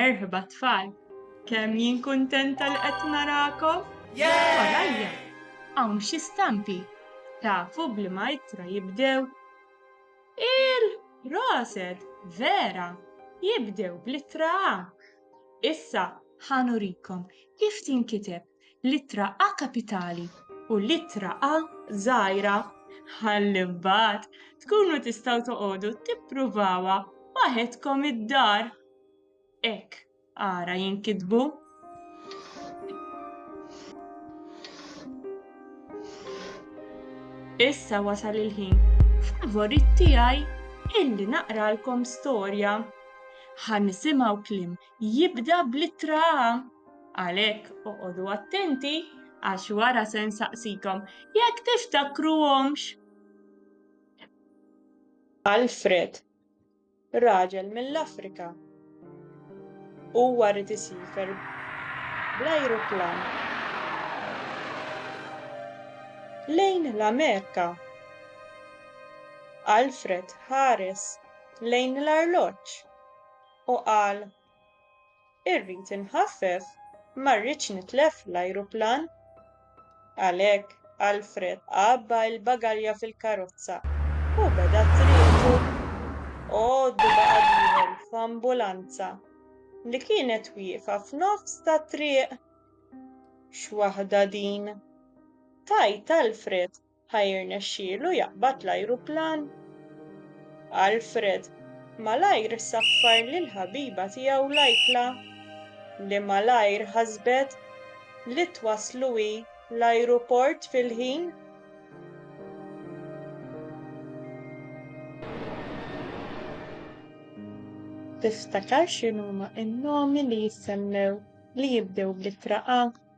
Merħba tfal, kemm jien kuntenta li qed narakom! Warajja hawn xi stampi, tafu b'liema ittra jibdew? Il-proset, vera, jibdew bl-ittra A. Issa ħa nurikom kif tinkiteb l-ittra A kapitali u l-ittra A żgħira ħalli mbagħad tkunu tistgħu toqogħdu tippruvawha waħedkom id-dar. Hekk ara jinkitbu. Issa wasal il-ħin favorit tiegħi illi naqralkom storja. Ħa nisimgħu klim jibda blittra għalhekk oqogħdu attenti għax wara se nsaqsikom jekk tiftakruhomx. Alfred Raġel mill-Afrika. Huwa rrid isifer bl-ajruplan lejn l-Amerika. Alfred ħares lejn l-arloġġ u qal Irrid inħaffef, ma rridx nitlef l-ajruplan. Għalhekk, Alfred għabba l-bagalja fil-karozza u beda triqtu. Għoddu baqa' dieħel f'ambulanza li kienet wieqfa f'nofs tat-triq. X'waħda din! Tgħid Alfred Ħa jirnexxielu jaqbad l-ajruplan? Alfred malajr saffar lill-ħabiba tiegħu Lajkla, li malajr ħasbet li twasslu hi l-ajruport fil-ħin. Tiftakar x'inhuma n-nomi li jissemmew li jibdew bl-ittra A?